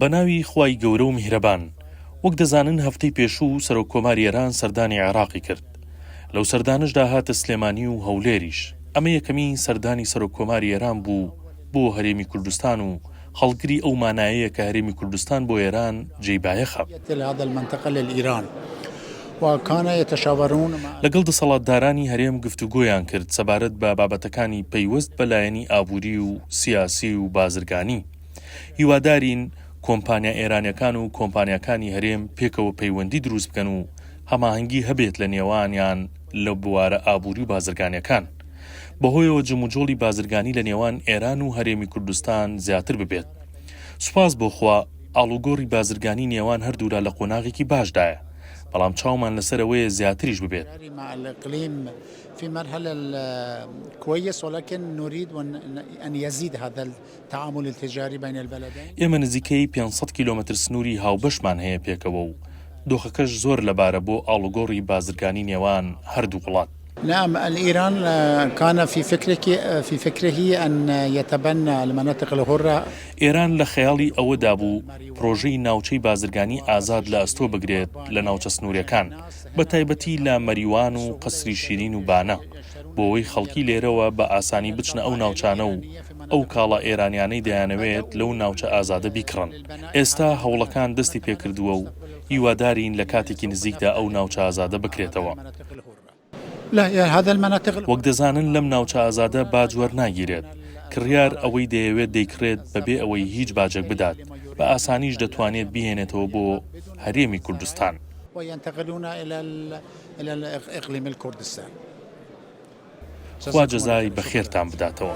بەناوی خوای گەورە و میهرەبان. وەک دەزانن هەفتەی پێشوو سەرۆک کۆماری ئێران سەردانی عێراقی کرد. لەو سەردانەشدا هاتە سلێمانی و هەولێریش. ئەمە یەکەمین سەردانی سەرۆک کۆماری ئێران بوو بۆ هەرێمی کوردستان و هەڵگری ئەو مانایەیە کە هەرێمی کوردستان بۆ ئێران جێی بایەخە. لەگەڵ دەسەڵاتدارانی هەرێم گفتوگۆیان کرد سەبارەت بە بابەتەکانی پەیوەست بە لایەنی ئابووری و سیاسی و بازرگانی. هیوادارین کۆمپانیا ئێرانیەکان و کۆمپانیاکانی هەرێم پێکەوە پەیوەندی دروست بکەن و هەماهەنگی هەبێت لە نێوانیان لە بوارە ئابووری و بازرگانیەکان بەهۆیەوە جموجۆڵی بازرگانی لە نێوان ئێران و هەرێمی کوردستان زیاتر ببێت. سوپاس بۆ خوا ئاڵوگۆڕی بازرگانی نێوان هەردوولا لە قۆناغێکی باشدایە. بەڵام چاومان لەسەر ئەوەیە زیاتریش ببێت. ئێمە نزیکەی پێنج سەد کیلۆمەتر سنووری هاوبەشمان هەیە پێکەوە و دۆخەکەش زۆر لەبارە بۆ ئاڵوگۆڕی بازرگانی نێوان هەردوو وڵات. نعم الایران کان فی فکرهی ان یتبنی المناطق الحرە. ئێران لە خەیاڵی ئەوەدا بوو پرۆژەی ناوچەی بازرگانی ئازاد لە ئەستۆ بگرێت لە ناوچە سنوورەکان، بە تایبەتی لە مەریوان و قەسری شیرین و بانە، بۆوەی خەڵکی لێرەوە بە ئاسانی بچنە ئەو ناوچانە و ئەو کاڵا ئێرانیانەی دەیانەوێت لەو ناوچە ئازادە بیکڕن. ئێستا هەوڵەکان دەستی پێکردووە و هیوادارین لە کاتێکی نزیکدا ئەو ناوچە ئازادە بکرێتەوە. وەک دەزانن لەم ناوچە ئازادە باج وەرناگیرێت، کڕیار ئەوەی دەیەوێت دەیکڕێت بەبێ ئەوەی هیچ باجێک بدات، بە ئاسانیش دەتوانێت بیهێنێتەوە بۆ هەرێمی کوردستان. خوا جەزای بەخێرتان بداتەوە.